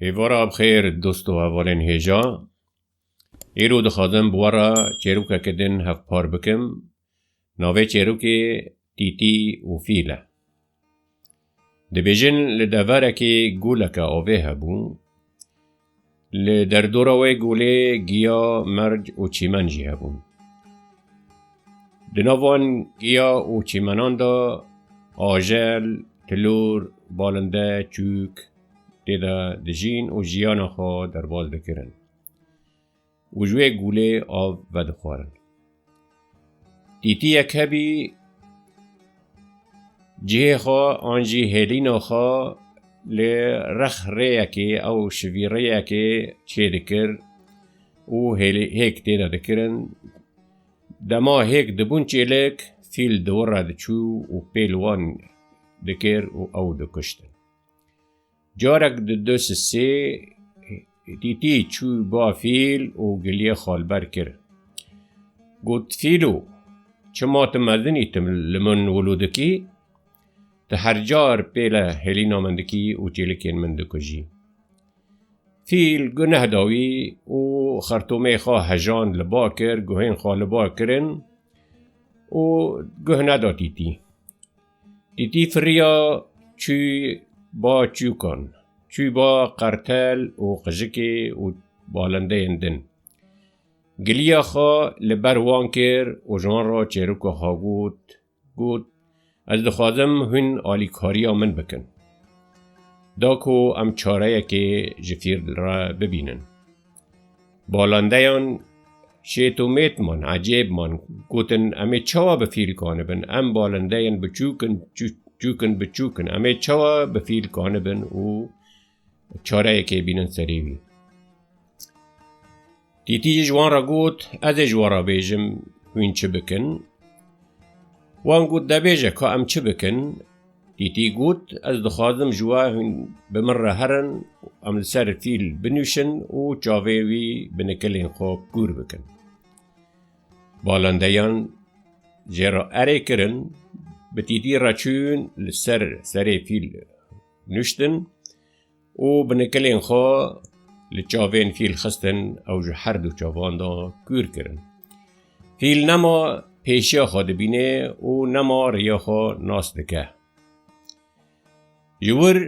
Êvara bi xêr dost û hevalên hêja. Îro dixwazim bi we re çêrokeke din hevpar bikim. Navê çêrokê Tîtî û Fîl e. Dibêjin li deverekê goleke avê hebû. Li derdora wê golê giya, merc û çîmen jî hebûn. Di nav van giya û çîmenan de ajel, tilor, balinde, çûk, Tê de dijîn û jiyana xwe derbas dikirin û ji wê gûlê av vedixwarin. Tîtiyek hebî cihê xwe an jî hêlîna xwe li rex rêyekê ew şivî rêyekê çê dikir û hêk tê de dikirin. Dema hêk dibûn çêlik fîl di wir re diçû û pêl wan dikir û ew dikuştin. Carek di du sisê tîtî çû ba fîl û giliyê xalber kir. Got, Fîlo, çima tu mezin î, tu li min wilo dikî? Tu her car pêle hêlîna min dikî û çêlikên min dikujî. Fîl guneh da wî û xertomê xwe hejand li ba kir, guhên xwe li ba kirin û guh neda tîtî. Dîtî firiya çû ba çûkan, çû ba qertel û qijikê û balindeyên din. Giliya xwe li ber wan kir û ji wan re çêroka xwe got, got, Ez dixwazim hûn alîkariya min bikin. Da ku em çareyekê ji fîr re bibînin. Balandeyan şêt û mêt man, ecêb man, gotin em ê çawa bi fîlkani bin, em balindeyên biçûk in, çûk in biçûk in, em ê çawa bi fîlkani bin û çareyekê bînin serê wî. Tîtî ji wan re got, ez ê ji wan re bêjim hûn çi bikin. Wan got debêje ka em çi bikin, Tîtî got, Ez dixwazim ji we hûn bi min re herin û em li ser fîl binûşin û çavê wî bi nikilên xwe kûr bikin. Balendeyan jê re erê kirin, bi Tîtî re çûn li ser serê fîl nûştin. û bi nikilên xwe li çavên fîl xistin ew ji herdu çavan de kûr kirin. Fîl nema pêşiya xwe dibînê û nema riya xwe nas dike. Ji wir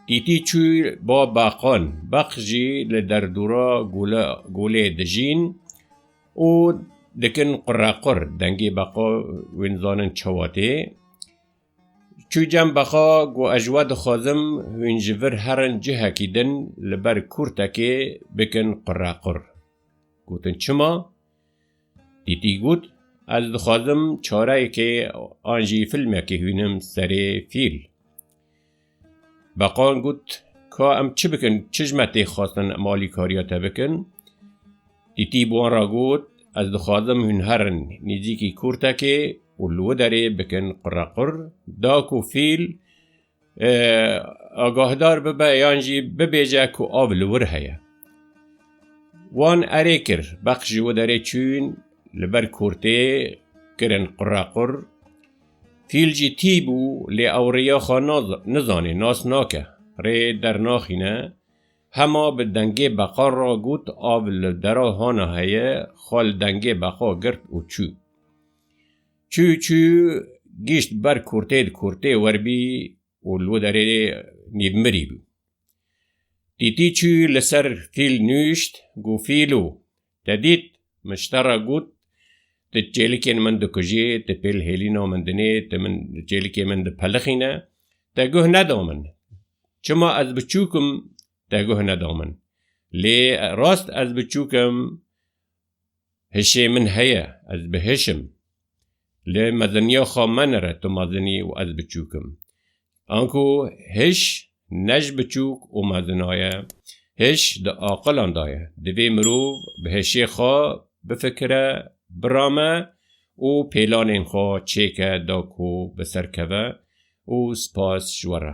Tîtî çû ba beqan, beq jî li derdora golê dijîn û dikin qurequr, dengê beqa wê nizanin çawa tê. Çû cem bexa ku ez ji we dixwazim hûn ji vir herin cihekî din li ber kûrtekê bikin qurequr. Gotin çima? Tîtî got, Ez dixwazim çareyekê an jî filmekê hûnim serê fîl. Beqan got, Ka em çi bikin, çijme tê xwestin em alîkariya te bikin? Tîtî bi wan re got, Ez dixwazim hûn herin nêzîkî kurtekê û li wê derê bikin qurequr, da ku fîl agahdar bibe yan jî bibêje ku av li wir heye. Wan erê kir, beq ji wê derê çûn, li ber kurtê kirin qurequr. Fîl jî tî bû lê ew rêya xwe nizanê, nas nake, rê dernaxîne, hema bi dengê beqan re got av li dera hana heye xwe li dengê beqa girt û çû. Çû çû gîşt ber kurtê di kurtê werbî û li wê derê nîv mirî bû. Tîtî çû li ser fîl nûşt, got fîlo Te dît? Miştera got, Ti çêlikên min dikujî, ti pêl hêlîna min dinê, ti min çêlikê min dipelixîne, te guh neda min. Çima ez biçûk im, te guh neda min. Lê rast ez biçûk im, hişê min heye, ez bi hiş im. Li meziniya xwe menire tu mezinî û ez biçûk im. Anku hiş ne ji biçûk û mezina ye. Hiş di aqilan de ye. Divê mirov bi hişê xwe bifikire, birame û pêlanên xwe çêke da ku bi ser keve û spas ji we re.